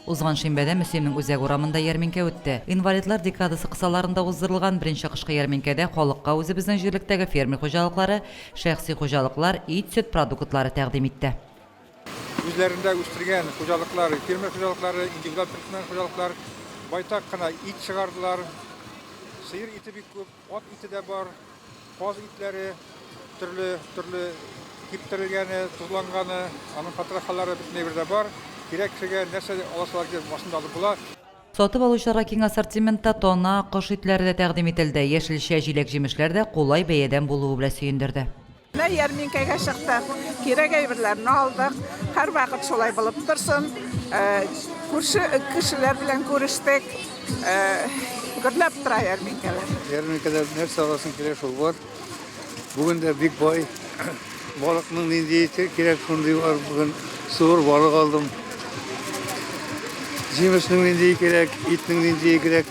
Узган шимбәдә Мөслимнең үзәк урамында ярминкә үтте. Инвалидлар декадасы кысаларында уздырылган беренче кышкы ярминкәдә халыкка үзебезнең җирлектәге фермер хуҗалыклары, шәхси хуҗалыклар ит-сөт продуктлары тәкъдим итте. Үзләрендә үстергән хуҗалыклар, фермер хуҗалыклары, индивидуаль төркмән хуҗалыклар байтак кына ит чыгардылар. Сыер ите бик күп. Ат ите дә бар, каз итләре, төрле, төрле киптерелгәне, тозланганы, аның потрохалары бөтенләй бер дә бар. Кирәк кешегә нәрсә дә аласылар килеп, машинада алып була. Сатып алучыларга киң ассортиментта тана, кош итләре дә тәкъдим ителде. Яшелчә, җиләк-җимешләр дә кулай бәядән булуы белән сөендерде. Ярминкәгә чыктык, кирәк әйберләрне алдык. Һәрвакыт шулай булып торсын. Күрше кешеләр белән күрештек. Гөрләп тора ярминкәләр. Ярминкәдә нәрсә аласың килә шул бар. Бүген дә бик бай. Балыкның нинди ите кирәк шундый бар. Бүген суыр балык алдым. Җимешнең нинди кирәк, итнең нинди кирәк.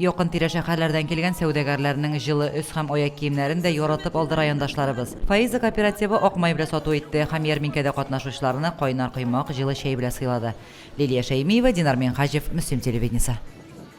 Якын-тирә шәһәрләрдән килгән сәүдәгәрләрнең җылы өс һәм аяк киемнәрен дә яратып алды райондашларыбыз. Фаиза кооперативы ак май белә сату итте һәм ярминкәдә катнашучыларны кайнар коймак, җылы чәй белә сыйлады. Лилия Шәймиева, Динар Минһаҗев, Мөслим телевидениесе.